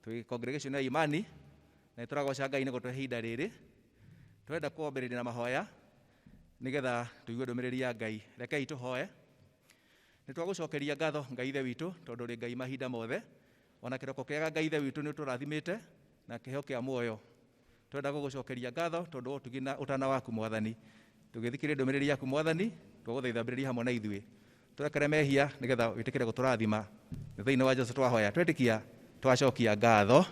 twĩ congregation ya imani na nĩ tũragoca ngai nĩ gũtwe ihinda rĩrĩ twenda kwambĩrĩria na mahoya nĩgetha tũigue ndũmĩrĩri ya ngai rekei tũhoe nĩ twagũcokeria ngatho ngai ithe witũ tondũ ũrĩ ngai mahinda mothe ona kĩroko kĩega ngai ithe witũ nĩ ũtũrathimĩte na kĩheo kĩa muoyo Twenda gũgũcokeria ngatho tondũ wa ũtugi na ũtana waku Mwathani. Tũgĩthikĩrĩria ndũmĩrĩri yaku Mwathani, twagũthaitha ambĩrĩria hamwe na ithuĩ. Tũrekere mehia nĩgetha wĩtĩkĩre gũtũrathima. Nĩ thĩinĩ wa Jesu twahoya twetĩkia twacokia ngatho.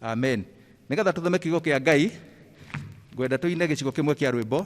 Amen. Nĩgetha tũthome kiugo kĩa Ngai, ngwenda tũine gĩcigo kĩmwe kĩa rwĩmbo.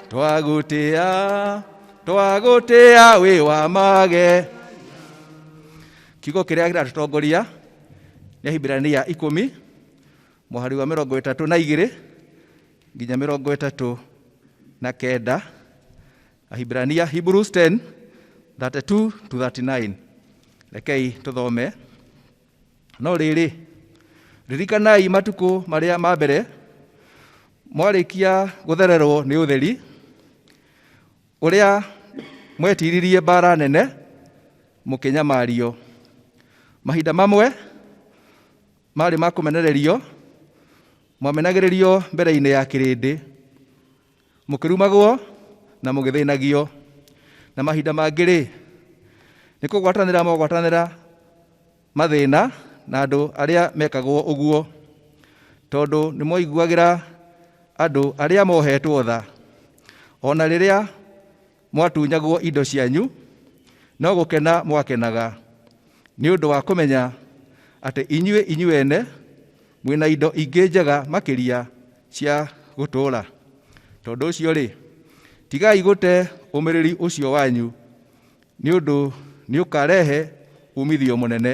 twagũtĩa twagũtĩa wĩ wa mage kiugo kĩrĩa kĩratũtongoria nĩ ahibirania ikũmi mũhari wa mĩrongo ĩtatũ na igĩrĩ nginya mĩrongo ĩtatũ na kenda ahibirania hebrews 10 32 to 39 rekei tũthome No rĩrĩ, ririkanai matukũ marĩa ma mbere mwarĩkia gũthererwo nĩ ũtheri, ũrĩa mwetiririe mbaara nene mũkĩnyamario. Mahinda mamwe maarĩ ma kũmenererio, mwamenagĩrĩrio mbere-inĩ ya kĩrĩndĩ. mũkĩrumagwo na mũgĩthĩnagio na mahinda mangĩ-rĩ nĩ kũgwatanĩra mogwatanĩra mathĩna na andũ arĩa mekagwo ũguo tondũ nĩ mwaiguagĩra andũ arĩa mohetwo tha ona rĩrĩa Mwatunyagwo indo cianyu, no gũkena mwakenaga nĩ ũndũ wa kũmenya atĩ inyuĩ inyuĩ ene mwĩ na indo ingĩ njega makĩria cia gũtũũra. Tondũ ũcio-rĩ, tigai gũte ũmĩrĩri ũcio wanyu, nĩ ũndũ nĩ ũkarehe uumithio mũnene,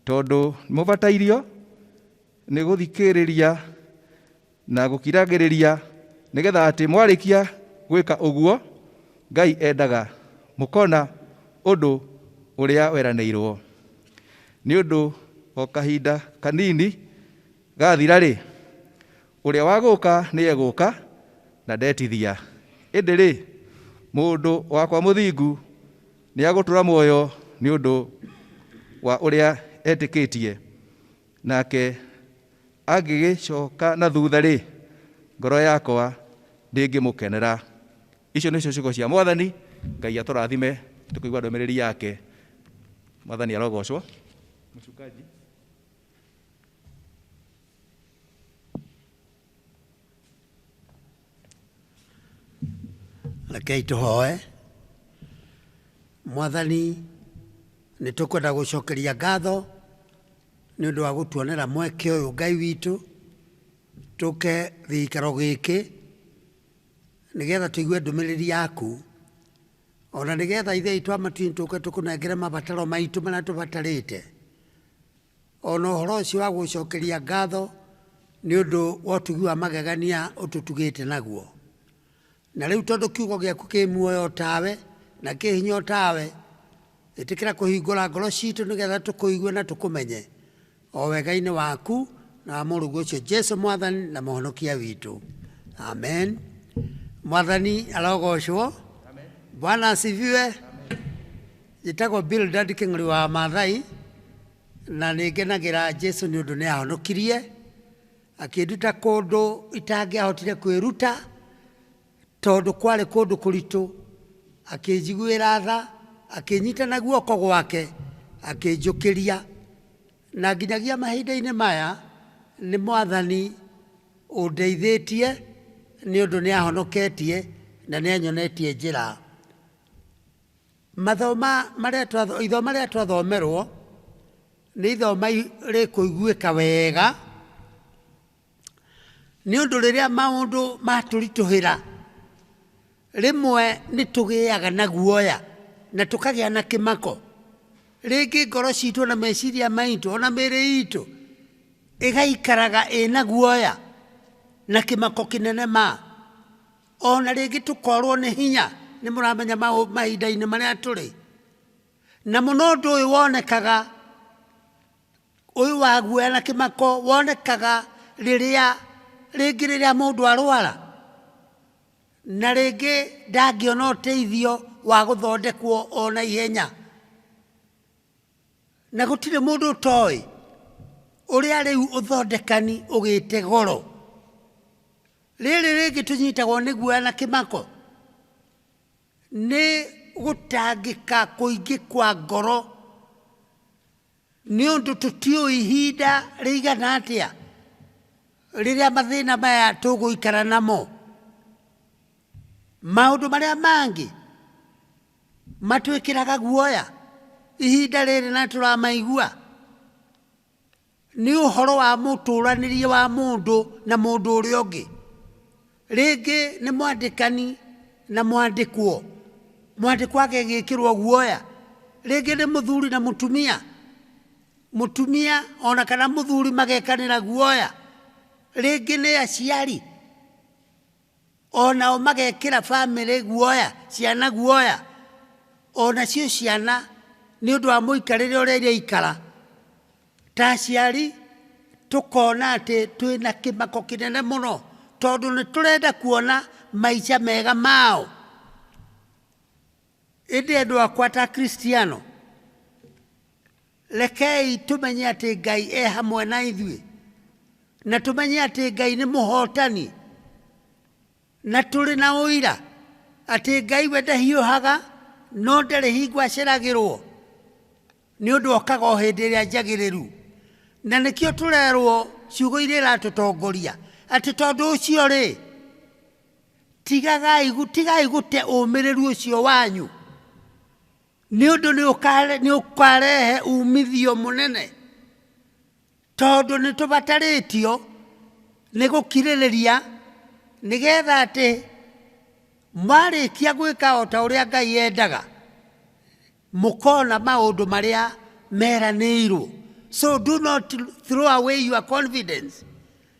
tondũ nĩ mũbatairio nĩ gũthikĩrĩria Na gũkiragĩrĩria, nĩgetha atĩ mwarĩkia gwĩka ũguo, Ngai endaga mũkona ũndũ ũrĩa weranĩirwo. Nĩ ũndũ o kahinda kanini gathira-rĩ, ũrĩa wa gũũka nĩegũũka, na ndetithia. Ĩndĩ-rĩ, mũndũ wakwa mũthingu nĩagũtũũra muoyo nĩ ũndũ wa ũrĩa etĩkĩtie. Nake angĩgĩcoka na thutha-rĩ, ngoro yakwa ndĩngĩmũkenera. Icio nĩcio ciugo cia Mwathani. Ngai atũrathime tũkĩigua ndũmĩrĩri yake. Mwathani arogocwo. Mchungaji. rekei tũhoe mwathani nĩ tũkwenda gũcokeria ngatho nĩ ũndũ wa gũtuonera mweke ũyũ ngai witũ tũke gĩikaro gĩkĩ nĩgetha tũigue ndũmĩrĩri yaku ona nĩgetha ithe itũ amatuinĩ tũke tũkũnengere mabataro maitũ marĩa tũbatarĩte O na ũhoro ũcio wa gũgũcokeria ngatho nĩ ũndũ wa ũtugi wa magegania ũtũtugĩte naguo. Na rĩu tondũ kiugo gĩaku kĩ muoyo o tawe, na kĩ hinya o tawe, ĩtĩkĩra kũhingũra ngoro citũ nĩgetha tũkũigue na tũkũmenye, o wega-inĩ waku na wa mũrũguo ũcio Jesu Mwathani na Mũhonokia witũ. Amen. Mwathani arogocwo. Bwana asifiwe. Njĩtagwo Bildad Kĩng'ori wa Maathai, na nĩ ngenagĩra Jesu nĩ ũndũ nĩ ahonokirie, akĩnduta kũndũ itangĩahotire kwĩruta, tondũ kwarĩ kũndũ kũritũ, akĩnjiguĩra tha, akĩnyita na guoko gwake, akĩnjũkĩria. Na nginyagia mahinda-inĩ maya, nĩ Mwathani ũndeithĩtie, nĩ ũndũ nĩ ahonoketie, na nĩ anyonetie njĩra. Mathoma marĩa twatho, ithoma rĩrĩa twathomerwo nĩ ithoma i- rĩkũiguĩka wega nĩ ũndũ rĩrĩa maũndũ matũritũhĩra rĩmwe nĩ tũgĩaga na guoya na tũkagĩa na kĩmako. Rĩngĩ ngoro citũ na meciria maitũ ona mĩĩrĩ itũ ĩgaikaraga ĩna guoya na kĩmako kĩnene ma. O na rĩngĩ tũkorwo nĩ hinya, nĩ mũramenya mahinda-inĩ marĩa tũrĩ, na mũno ũndũ ũyũ wonekaga, ũyũ wa guoya na kĩmako wonekaga rĩrĩa, rĩngĩ rĩrĩa mũndũ arwara, na rĩngĩ ndangĩona ũteithio wa gũthondekwo o na ihenya. na gũtirĩ mũndũ ũtoĩ ũrĩa rĩu ũthondekani ũgĩte goro rĩrĩ rĩngĩ tũnyitagwo nĩ guoya na kĩmako nĩ gũtangĩka kũingĩ kwa ngoro nĩ ũndũ tũtiũĩ ihinda rĩigana atĩa rĩrĩa mathĩna maya tũgũikara namo maũndũ marĩa mangĩ Matwĩkĩraga guoya ihinda rĩrĩ na nĩtũramaigua? Nĩ ũhoro wa mũtũranĩrie wa mũndũ na mũndũ ũrĩa ũngĩ. Rĩngĩ nĩ mwandĩkani na mwandĩkwo, mwandĩkwo agagĩkĩrwo guoya. Rĩngĩ nĩ mũthuri na mũtumia, mũtumia ona kana mũthuri magekanĩra guoya. Rĩngĩ nĩ aciari. Onao magekĩra bamĩrĩ guoya, ciana guoya, onacio ciana nĩ ũndũ wa mũikarĩre ũrĩa iraikara. Ta aciari tũkona atĩ twĩna kĩmako kĩnene mũno tondũ nĩtũrenda kuona maica mega mao. Ĩndĩ andũ akwa ta Akristiano, rekei tũmenye atĩ Ngai e hamwe na ithuĩ, na tũmenye atĩ Ngai nĩ mũhotani, na tũrĩ na ũira atĩ Ngai we ndahiũhaga, no ndarĩ hingo aceragĩrwo, nĩ ũndũ okaga o hĩndĩ ĩrĩa njagĩrĩru. Na nĩkĩo tũrerwo ciugo iria iratũtongoria atĩ tondũ ũcio rĩ, tigagai gu- tigai gũte ũmĩrĩru ũcio wanyu nĩ ũndũ nĩ ũkare- nĩ ũkarehe umithio mũnene tondũ nĩ tũbatarĩtio nĩ gũkirĩrĩria nĩgetha atĩ mwarĩkia gwĩka o ta ũrĩa ngai endaga mũkona maũndũ marĩa meranĩirwo so do not throw away your confidence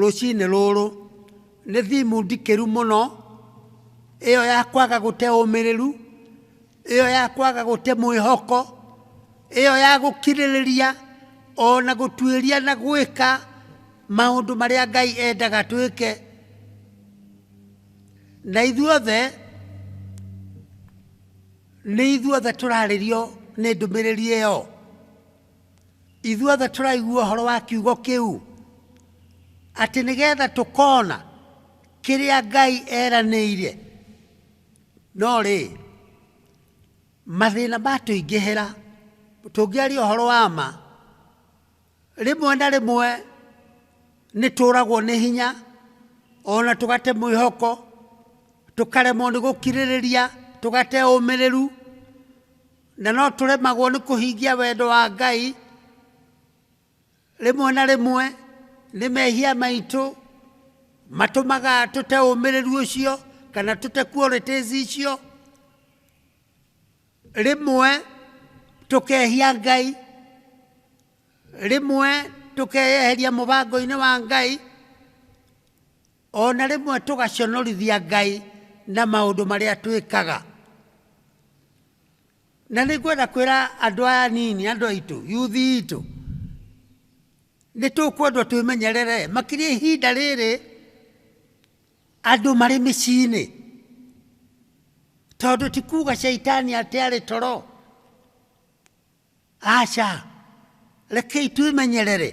Rũcinĩ rũrũ nĩ thimu ndikĩru mũno, ĩyo ya kwaga gũte ũmĩrĩru, ĩyo ya kwaga gũte mwĩhoko, ĩyo ya gũkirĩrĩria o na gũtuĩria na gwĩka maũndũ marĩa Ngai endaga twĩke. Na ithuothe, nĩ ithuothe tũrarĩrio nĩ ndũmĩrĩri ĩyo. Ithuothe tũraigua ũhoro wa kiugo kĩu atĩ nĩgetha tũkona kĩrĩa Ngai eranĩire. No rĩ, mathĩna matũingĩhĩra, tũngĩaria ũhoro wa ma, rĩmwe na rĩmwe nĩ tũragwo nĩ hinya, ona tũgate mwĩhoko, tũkaremwo nĩ gũkirĩrĩria, tũgate ũmĩrĩru. Na no tũremagwo nĩ kũhingia wendo wa Ngai rĩmwe na rĩmwe nĩ mehia maitũ matũmaga tũte ũmĩrĩru ũcio kana tũte qualities icio rĩmwe tũkehia ngai rĩmwe tũkeyeheria mũbango-inĩ wa ngai O na rĩmwe tũgaconorithia Ngai na maũndũ marĩa twĩkaga. Na nĩ ngwenda kwĩra andũ aya nini, andũ aitũ, yuthi itũ, nĩ tũkwendwo twĩmenyerere makĩria ihinda rĩrĩ andũ marĩ mĩciĩ-inĩ, tondũ ti kuga caitani atĩ arĩ toro Aca, rekei twĩmenyerere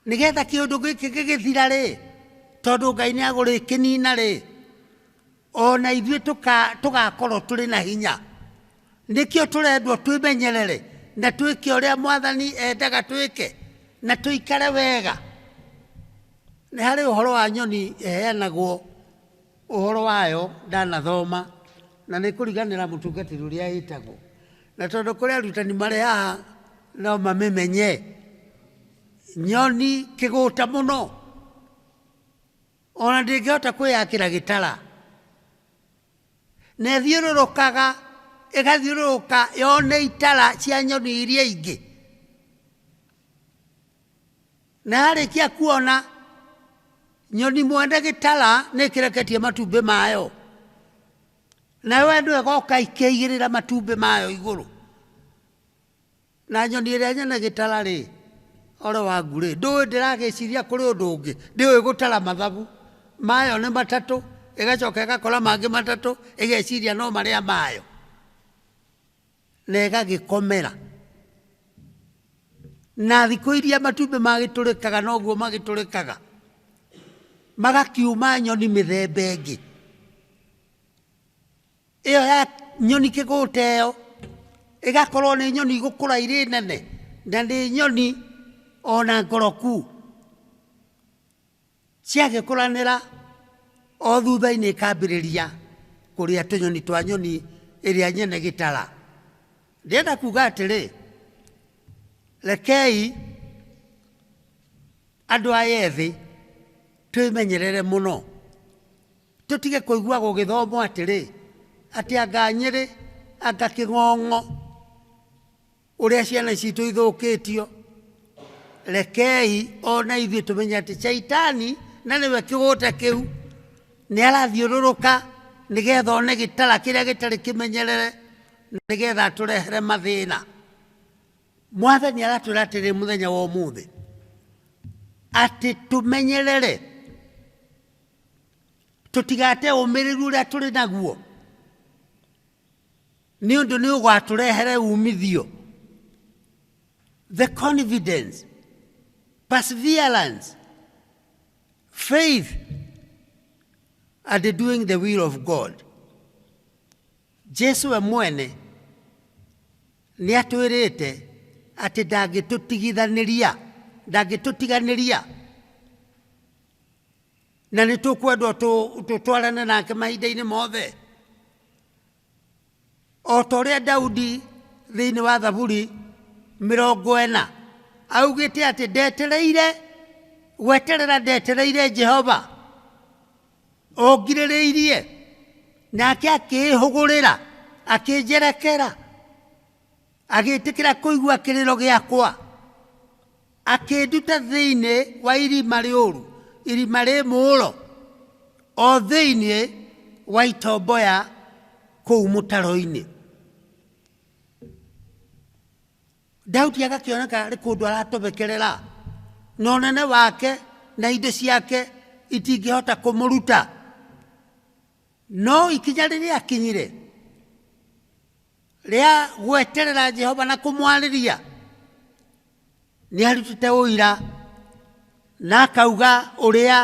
nĩgetha kĩũndũ gĩkĩ gĩgĩthira rĩ, tondũ Ngai nĩ agũrĩkĩnina rĩ, o na ithuĩ tũgakorwo tũrĩ na hinya. Nĩkĩo tũrendwo twĩmenyerere na twĩke ũrĩa Mwathani endaga twĩke na tũikare wega. Nĩ harĩ ũhoro wa nyoni ĩheanagwo. ũhoro wayo ndanathoma, na nĩ kũriganĩra mũtungatĩri ũrĩa ĩtagwo. Na tondũ kũrĩ arutani marĩ haha no mamĩmenye, nyoni kĩgũta mũno, ona ndĩngĩhota kwĩyakĩra gĩtara. Na ĩthiũrũrũkaga, ĩgathiũrũrũka yone itara cia nyoni iria ingĩ. Na yarĩkia kuona nyoni mwene gĩtara nĩ ĩkĩreketie matumbĩ mayo, nayo ĩno ĩgoka ikĩigĩrĩra matumbĩ mayo igũrũ. Na nyoni ĩrĩa nyene gĩtara rĩ, ore wangu rĩ, ndũĩ ndĩragĩciria kũrĩ ũndũ ũngĩ, ndĩũĩ gũtara mathabu, mayo nĩ matatũ, ĩgacoka ĩgakora mangĩ matatũ, ĩgeciria no marĩa mayo. na ĩgagĩkomera. Na thikũ iria matumbĩ magĩtũrĩkaga noguo magĩtũrĩkaga, magakiuma nyoni mĩthemba ĩngĩ. Ĩyo ya nyoni kĩgũta ĩyo, ĩgakorwo nĩ nyoni igũkũra irĩ nene, na nĩ nyoni ona ngoroku. Ciagĩkũranĩra, o thutha-inĩ ikambĩrĩria kũrĩa tũnyoni twa nyoni ĩrĩa nyene gĩtara. Ndĩrenda kuga atĩrĩ, rekei andũ aya ethĩ twĩmenyerere mũno, tũtige kũigua gũgĩthomwo atĩrĩ, atĩ anga nyĩrĩ, anga kĩng'ong'o. ũrĩa ciana citũ ithũkĩtio rekei ona ithuĩ tũmenye atĩ caitani na nĩwe kĩgũta kĩu nĩ arathiũrũrũka nĩgetha one gĩtara kĩrĩa gĩtarĩ kĩmenyerere nĩgetha atũrehere mathĩna mwathani aratwĩra atĩrĩ mũthenya wa ũmũthĩ atĩ tũmenyerere tũtigate ũmĩrĩru ũrĩa tũrĩ naguo Nĩ ũndũ nĩ ũgatũrehere umithio. The confidence, perseverance, faith, and the doing the will of God. Jesu we mwene nĩ atwĩrĩte atĩ ndangĩtũtigithanĩria ndangĩtũtiganĩria na nĩ tũkwendwo tũ- tũtwarane nake mahinda-inĩ mothe o ta ũrĩa daudi thĩinĩ wa thaburi mĩrongo ĩna augĩte atĩ ndetereire gweterera ndetereire jehova ongirĩrĩirie nake akĩĩhũgũrĩra akĩnjerekera Agĩtĩkĩra kũigua kĩrĩro gĩakwa, akĩnduta thĩinĩ wa irima rĩũru, irima rĩ mũũro, o thĩinĩ wa itomboya kũu mũtaro-inĩ. Daudi agakĩoneka arĩ kũndũ aratobekerera, na ũnene wake na indo ciake itingĩhota kũmũruta. No ikinya rĩrĩa akinyire, rĩa gweterera Jehova na kũmwarĩria nĩ arutĩte ũira na akauga ũrĩa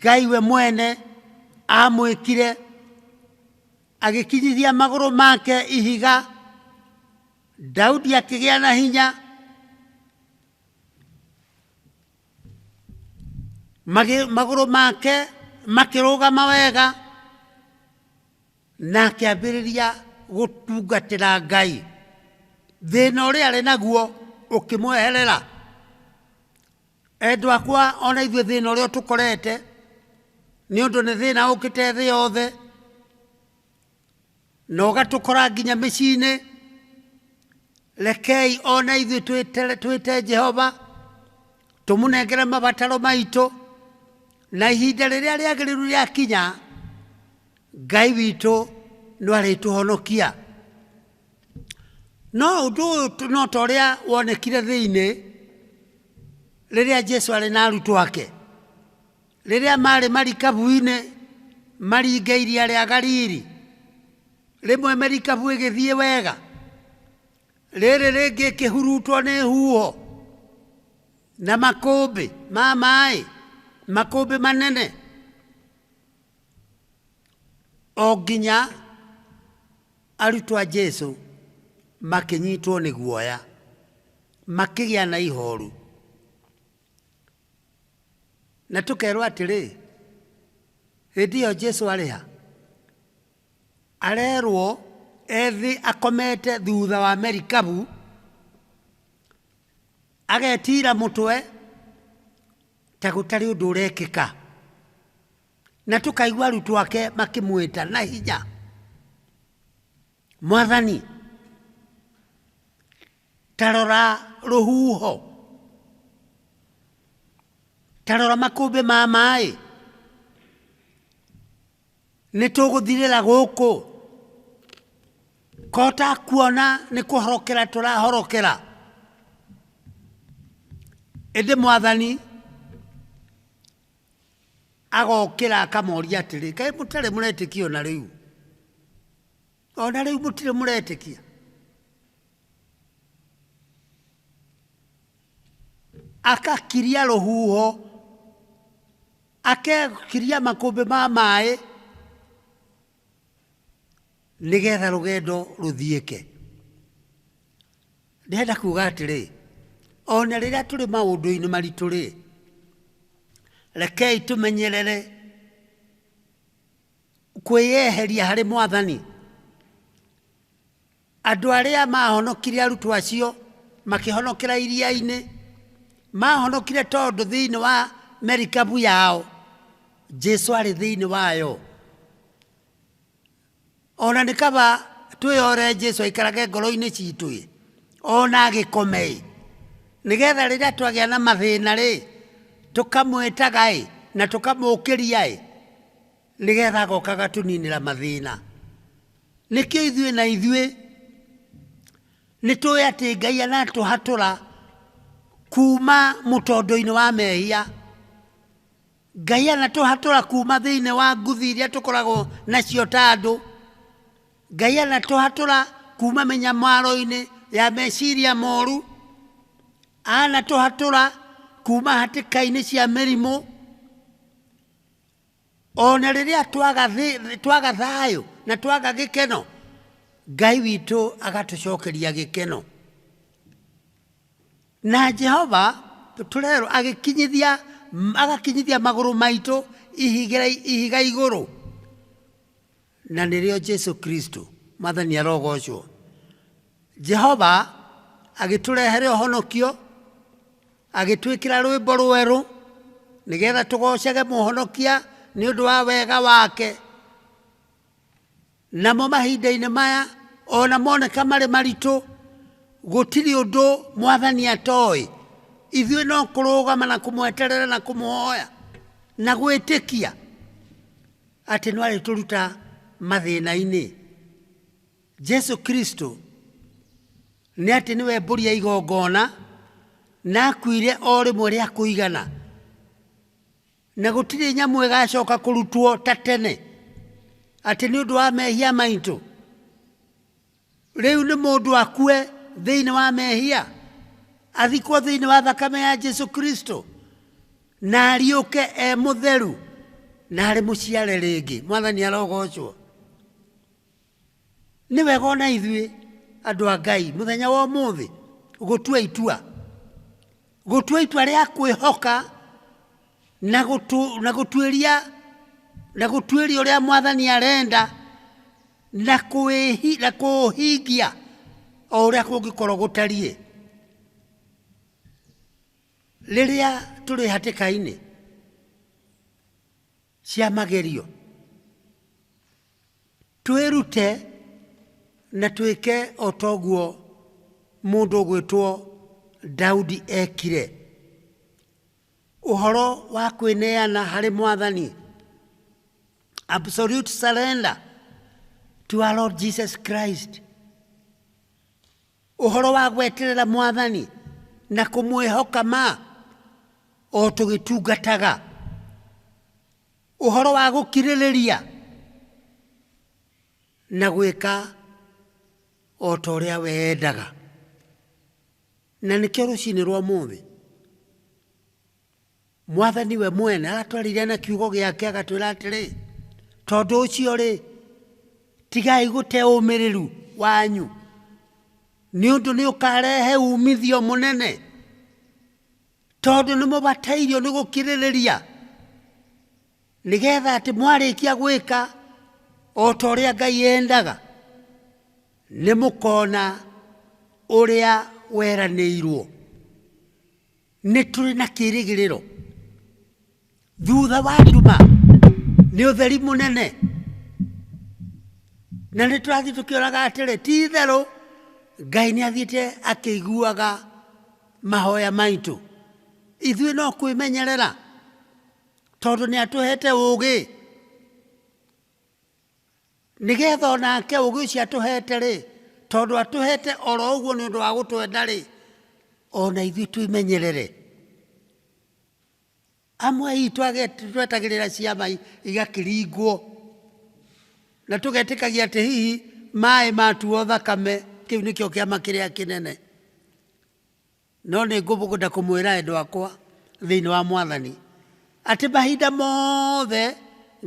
Ngai we mwene amwĩkire agĩkinyithia magũrũ make ihiga Daudi akĩgĩa na hinya magĩ- magũrũ make makĩrũgama wega Na akĩambĩrĩria gũtungatĩra Ngai. Thĩna ũrĩa arĩ naguo ũkĩmweherera. Endwa akwa o na ithuĩ thĩna ũrĩa ũtũkorete nĩ ũndũ nĩ thĩna ũkĩte thĩ yothe na ũgatũkora nginya mĩciĩ-inĩ. Rekei o na ithuĩ twĩte Jehova tũmũnengere mabataro maitũ na ihinda rĩrĩa rĩagĩrĩru rĩakinya, Ngai witũ nĩ arĩtũhonokia. No ũndũ ũyũ no ta ũrĩa wonekire thĩinĩ rĩrĩa Jesu arĩ na arutwo ake. Rĩrĩa maarĩ marikabu-inĩ maringa iria rĩa Galili, rĩmwe merikabu ĩgĩthiĩ wega, rĩrĩ rĩngĩ ĩkĩhurutwo nĩ huho na makũmbĩ ma maĩ, makũmbĩ manene. o nginya arutwo a Jesu makĩnyitwo nĩ guoya, makĩgĩa na ihoru. Na tũkerwo atĩrĩ, hĩndĩ ĩyo Jesu arĩ ha? Arerwo ethĩ akomete thutha wa merikabu, agetira mũtwe, ta gũtarĩ ũndũ ũrekĩka. Na tũkaigua arutwo ake makĩmwĩta na hinya, Mwathani, ta rora rũhuho, ta rora makũmbĩ ma maĩ. nĩ tũgũthirĩra gũkũ ko ta kuona nĩ kũhorokera tũrahorokera ĩndĩ mwathani agokĩra akamoria atĩrĩ kaĩ mũtarĩ mũretĩkia ona rĩu ona rĩu mũtirĩ mũretĩkia akakiria rũhuho Akegiria makũmbĩ ma maĩ nĩgetha rũgendo rũthiĩke. Ndĩrenda kuga atĩrĩ, o na rĩrĩa tũrĩ maũndũ-inĩ maritũ-rĩ, rekei tũmenyerere kwĩyeheria harĩ Mwathani. Andũ arĩa maahonokire arutwo acio makĩhonokera iria-inĩ, maahonokire tondũ thĩinĩ wa merikabu yao Jesu arĩ thĩinĩ wayo. Ona nĩ kaba twĩyore Jesu aikarage ngoro-inĩ citũ-ĩ, ona agĩkome-ĩ, nĩgetha rĩrĩa twagĩa na mathĩna-rĩ, tũkamwĩtaga-ĩ, na tũkamũkĩria-ĩ. Nĩ getha agoka agatũninĩra mathĩna. Nĩkĩo ithuĩ na ithuĩ nĩ tũĩ atĩ Ngai anatũhatũra kuma mũtondo-inĩ wa mehia. Ngai anatũhatũra kuma thĩinĩ wa nguthi iria tũkoragwo nacio ta andũ. Ngai anatũhatũra kuma mĩnyamaro-inĩ ya meciria moru. Anatũhatũra kuma hatĩka-inĩ cia mĩrimũ. o na rĩrĩa twaga thĩ- twaga thayũ na twaga gĩkeno ngai witũ agatũcokeria gĩkeno na jehova tũrerwo agĩkinyithia agakinyithia magũrũ maitũ ihiga, ihiga igũrũ Na nĩrĩo Jesu Kristo. Mwathani arogoocwo. Jehova agĩtũrehere ũhonokio, agĩtwĩkĩra rwĩmbo rwerũ, nĩgetha tũgoocage Mũhonokia nĩ ũndũ wa wega wake. Namo mahinda-inĩ maya, o na moneka marĩ maritũ, gũtirĩ ũndũ Mwathani atoĩ. Ithuĩ no kũrũgama na kũmweterera na kũmũhoya na gwĩtĩkia. Atĩ no arĩtũruta mathĩna-inĩ. Jesu Kristo nĩ atĩ nĩwe mbũri ya igongona na akuire o rĩmwe rĩa kũigana. Na gũtirĩ nyamũ ĩgacoka kũrutwo ta tene atĩ nĩ ũndũ wa mehia maitũ. Rĩu nĩ mũndũ akue thĩinĩ wa mehia, athikwo thĩinĩ wa thakame ya Jesu Kristo, na ariũke e mũtheru, na arĩ mũciare rĩngĩ. Mwathani arogocwo. Nĩ wega ona ithuĩ andũ a Ngai mũthenya wa ũmũthĩ gũtua itua gũtua itua rĩa kwĩhoka na gũtu- na gũtuĩria na gũtuĩria ũrĩa mwathani arenda na kwĩhi, na kũũhingia o ũrĩa kũngĩkorwo gũtariĩ rĩrĩa tũrĩ hatĩka-inĩ cia magerio twĩrute na twĩke o toguo mũndũ ũgwĩtwo Daudi ekire. Ũhoro wa kwĩneana harĩ mwathani. Absolute surrender to our Lord Jesus Christ. Ũhoro wa gweterera mwathani na kũmwĩhoka ma o tũgĩtungataga. Ũhoro wa gũkirĩrĩria na gwĩka o ta ũrĩa wendaga. Na nĩkĩo rũcinĩ rwa mũthĩ mwathani we mwene aratwarire na kiugo gĩake agatwĩra atĩrĩ tondũ ũcio rĩ tigai gũte ũmĩrĩru wanyu nĩ ũndũ nĩ ũkarehe umithio mũnene tondũ nĩ mũbatairio nĩ gũkirĩrĩria nĩgetha atĩ mwarĩkia gwĩka o ta ũrĩa ngai endaga nĩ mũkona ũrĩa weranĩirwo Nĩ tũrĩ na kĩĩrĩgĩrĩro. Thutha wa nduma nĩ ũtheri mũnene. Na nĩ tũrathiĩ tũkĩoraga atĩrĩ, ti itherũ Ngai nĩ athiĩte akĩiguaga mahoya maitũ. Ithuĩ no kwĩmenyerera tondũ nĩ atũhete ũũgĩ. nĩgetha o nake ũgĩ ũcio atũhete-rĩ tondũ atũhete oro ũguo nĩ ũndũ wa gũtwenda-rĩ ona ithuĩ twĩmenyerere amwe aitũ twetagĩrĩra ciama igakĩringwo na tũgetĩkagia atĩ hihi maĩ matuo thakame kĩu nĩkĩo kĩama kĩrĩa kĩnene No nĩngũbũgũda kũmwĩra endwa akwa thĩinĩ wa Mwathani, atĩ mahinda moothe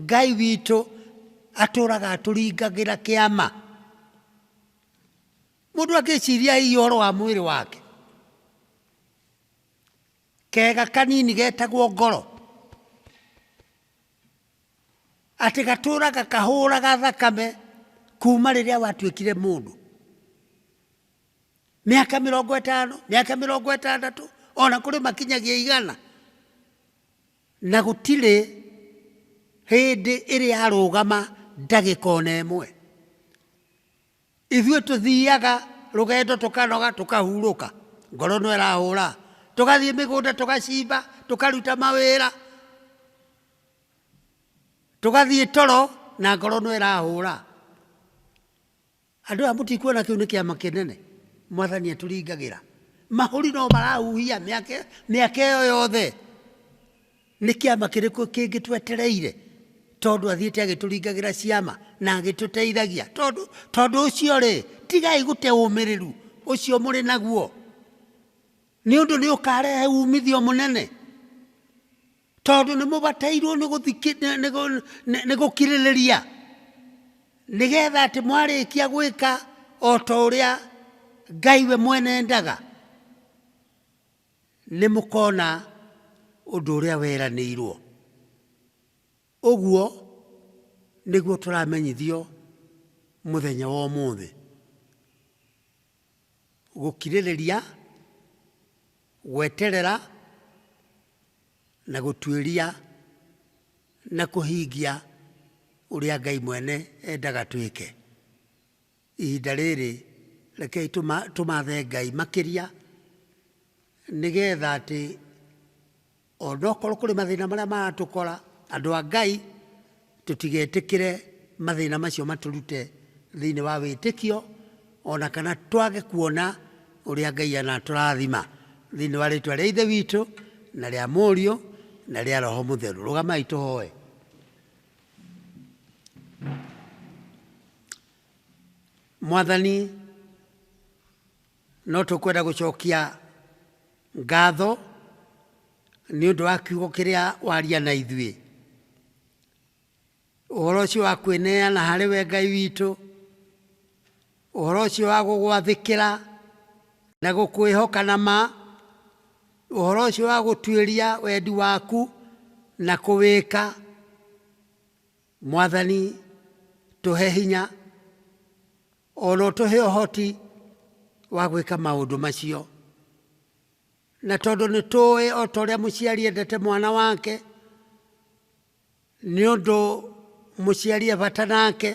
Ngai witũ atũũraga atũringagĩra kĩama. Mũndũ angĩciiria hihi ũhoro wa mwĩrĩ wake, kega kanini getagwo ngoro, atĩ gatũũraga kahũũraga thakame kuuma rĩrĩa watuĩkire mũndũ. mĩaka mĩrongo ĩtano mĩaka mĩrongo ĩtandatũ ona kũrĩ makinyagia igana na gũtirĩ hĩndĩ ĩrĩa arũgama ndagĩka ona ĩmwe ithuĩ tũthiaga rũgendo tũkanoga tũkahurũka ngoro no ĩrahũra tũgathiĩ mĩgũnda tũgacimba tũkaruta mawĩra tũgathiĩ toro na ngoro no ĩrahũra Andũ aya mũtikuona kĩu nĩ kĩama kĩnene mwathani atũringagĩra? Mahũri no marahuhia mĩaka mĩaka ĩyo yothe. Nĩ kĩama kĩrĩkũ kĩngĩ twetereire? Tondũ athiĩte agĩtũringagĩra ciama na agĩtũteithagia. Tondũ tondũ ũcio rĩ, tigai gũte ũmĩrĩru ũcio mũrĩ naguo, nĩ ũndũ nĩ ũkarehe umithio mũnene. Tondũ nĩ mũbatairwo nĩ gũthiki- nĩ- nĩ gũ- nĩ- nĩ gũkirĩrĩria nĩgetha atĩ mwarĩkia gwĩka o ta ũrĩa ngai we mwene endaga nĩ mũkona ũndũ ũrĩa weranĩirwo ũguo nĩguo tũramenyithio mũthenya wa ũmũthĩ gũkirĩrĩria, gweterera, na gũtuĩria na kũhingia ũrĩa Ngai mwene endaga twĩke. Ihinda rĩrĩ rekei tũmathe Ngai makĩria nĩgetha atĩ Onokorwo kũrĩ mathĩna marĩa maratũkora, andũ a Ngai, tũtigetĩkĩre mathĩna macio matũrute thĩinĩ wa wĩtĩkio, ona kana twage kuona ũrĩa Ngai anatũrathima. Thĩinĩ wa rĩtwa rĩa Ithe witũ, na rĩa Mũriũ, na rĩa Roho Mũtheru. Rũgamai tũhoe. Mwathani, No tũkwenda gũcokia ngatho nĩ ũndũ wa kiugo kĩrĩa waria na ithuĩ. Ũhoro ũcio wa kwĩneana harĩ we Ngai witũ, ũhoro ũcio wa gũgwathĩkĩra na gũkwĩhoka na ma, ũhoro ũcio wa gũtuĩria wendi waku na kũwĩka. Mwathani, tũhe hinya. O no tũhe ũhoti wa gwĩka maũndũ macio. Na tondũ nĩ tũĩ o ta ũrĩa mũciari endete mwana wake, nĩ ũndũ mũciari e bata nake,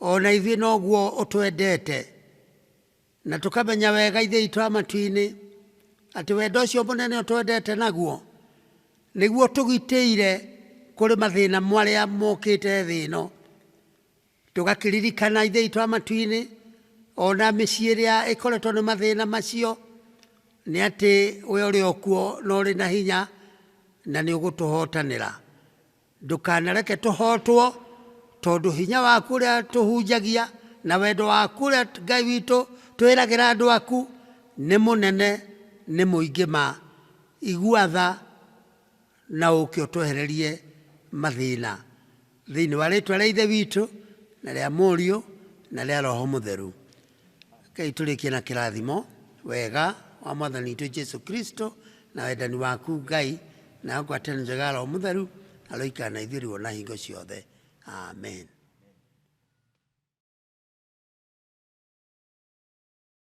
o na ithuĩ noguo ũtwendete. Na tũkamenya wega Ithe witũ wa matu-inĩ atĩ wendo ũcio mũnene ũtwendete naguo nĩguo ũtũgitĩire kũrĩ mathĩna marĩa mokĩte thĩ ĩno. Tũgakĩririkana Ithe witũ wa matu-inĩ, o na mĩciĩ ĩrĩa ĩkoretwo nĩ mathĩna macio, nĩ atĩ we ũrĩ o kuo na ũrĩ na hinya na nĩ ũgũtũhotanĩra. Ndũkanareke tũhotwo, tondũ hinya waku ũrĩa tũhunjagia na wendo waku ũrĩa Ngai witũ twĩragĩra andũ aku nĩ mũnene, nĩ mũingĩ ma. Igua tha Na ũũke ũtwehererie mathĩna. Thĩinĩ wa rĩĩtwa rĩa Ithe witũ, na rĩa Mũriũ, na rĩa Roho Mũtheru. Rekei tũrĩkie na kĩrathimo. Wega wa Mwathani witũ Jesu Kristo, na wendani waku Ngai, na ngwatanĩro njega ya Roho Mũtheru, aroikara na ithuĩ rĩu o na hingo ciothe. Amen.